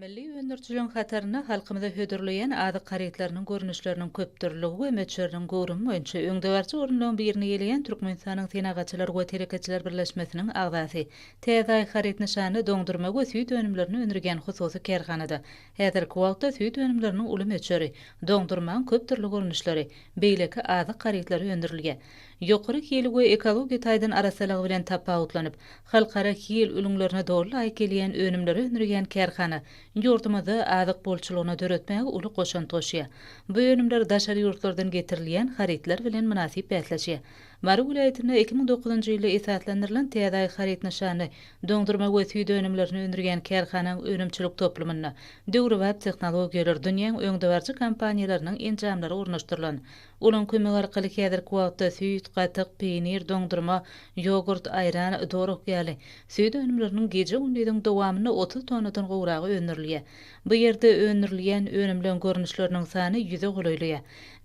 Milli öndürijiligiň hatarynda halkymyza hödürleýän azyk harytlarynyň görnüşleriniň köpdürliligi we möçberiniň göwrümi boýunça öňdebaryjy orunlaryň birini eýeleýän Türkmenistanyň Senagatçylar we telekeçiler birleşmesiniň agzasy, Täze Aý haryt nyşanly doňdurma we süýt önümlerini öndürýän hususy kärhanada häzirki wagtda süýt önümleriniň uly möçberi, doňdurmaň köpdürli görnüşleri, beýleki azyk harytlary öndürilýär. ýokary hili we ekologiýa taýdan arassalygy bilen tapawutlanyp, halkara hil ülňülerine doly laýyk gelýän önümleri öndürýän kärhana ýurdumyzda azyk bolçulygyny döretmäge uly goşant goşýar. Bu önümler daşary ýurtlardan getirilýän harytlar bilen mynasyp bäsleşýär. Mary welaýatynda iki müň dokuzynjy ýylda esaslandyrylan Täzäý haryt nyşanly doňdurma we süýt önümlerini öndürýän kärhanaň önümçilik toplumynda döwrebap tehnologiýalar, dünýäň öňdebaryjy kompaniýalarynyň enjamlary ornaşdyrylan Olaň kömegi arkaly häzirki wagtda süýt, gatyk, peýnir, doňdurma, ýogurt, aýran, doruk ýaly süýt önümleriniň gije-gündiziň dowamynda otuz tonnadan gowragy öndürilýär. Bu ýerde öndürilýän önümleň görnüşleriniň sany ýüze golaýlaýar.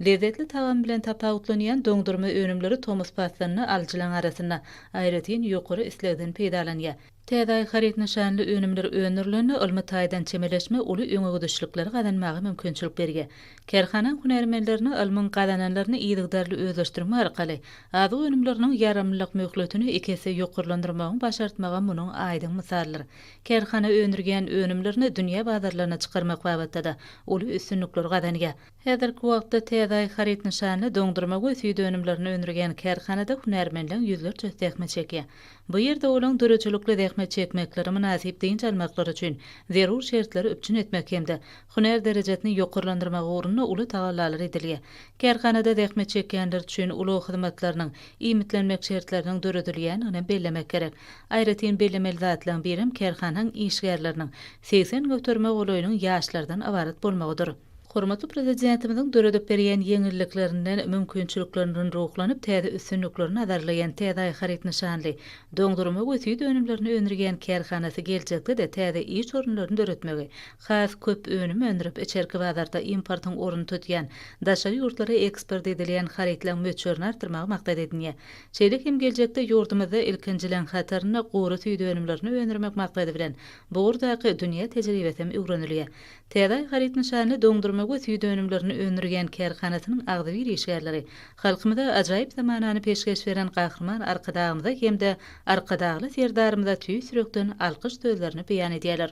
Lezzetli tagamy bilen tapawutlanýan doňdurma önümleri tomus paslynda alyjylaryň arasynda aýratyn ýokary islegden peýdalanýar. Täze aý haryt nyşanly önümler öndürilende ylmy taýdan çemeleşme uly öňegidişlikleri gazanmaga mümkinçilik berýär. Kärhana hünärmenlerine ylmyň gazananlaryny yzygiderli özleşdirme arkaly, azyk önümleriniň ýaramlylyk möhletini iki esse ýokarlandyrmagyň başartmagy munuň aýdyň mysalydyr. Kärhana öndürýän önümlerini dünýä bazarlaryna çykarmak babatda-da uly üstünlikleri gazanýar. Häzirki wagtda Täze Aý haryt nyşanly doňdurma we süýt önümlerini öndürýän kärhanada hünärmenleň ýüzlerçesi zähmet çekýär. Bu ýerde olaň döredijilikli zähmet çekmekleri, mynasyp dynç almaklary üçin zerur şertleri üpjün etmek hem-de hünär derejesini ýokarlandyrmak ugrunda uly tagallalar edilýär. Kärhanada zähmet çekýänler üçin ulag hyzmatlarynyň, iýmitlenmek şertleriniň döredilýändigini bellemek gerek. Aýratyn bellemeli zatlaryň birem kärhanaň işgärleriniň segsen göterime golaýynyň ýaşlardan ybarat bolmagydyr. Hormatly Prezidentimiziň döredip berýän ýeňilliklerinden, mümkinçiliklerinden ruhlanyp, täze üstünlikleri nazarlaýan TDI haryt nyşanly doňdurma we süýt önümlerini öndürýän kärhanasy geljekde-de täze iş orunlaryny döretmegi, has köp önüm öndürip, içerki bazarda importyň ornuny tutýan, daşary ýurtlara eksport edilýän harytlaryň möçberini artdyrmagy maksat edinýär. Şeýle hem geljekde ýurdumyzda ilkinjileň hatarynda gury süýt önümlerini öndürmek maksady bilen bu ugurdaky dünýä tejribesi hem öwrenilýär. Täze haryt nyşanly doňdurma we süýt önümlerini öndürýän kärhanasynyň agzybir işgärleri halkymyza ajaýyp zamanany peşgeş beren Gahryman Arkadagymyza hem-de Arkadagly Serdarymyza tüýs ýürekden alkyş sözlerini beýan edýärler.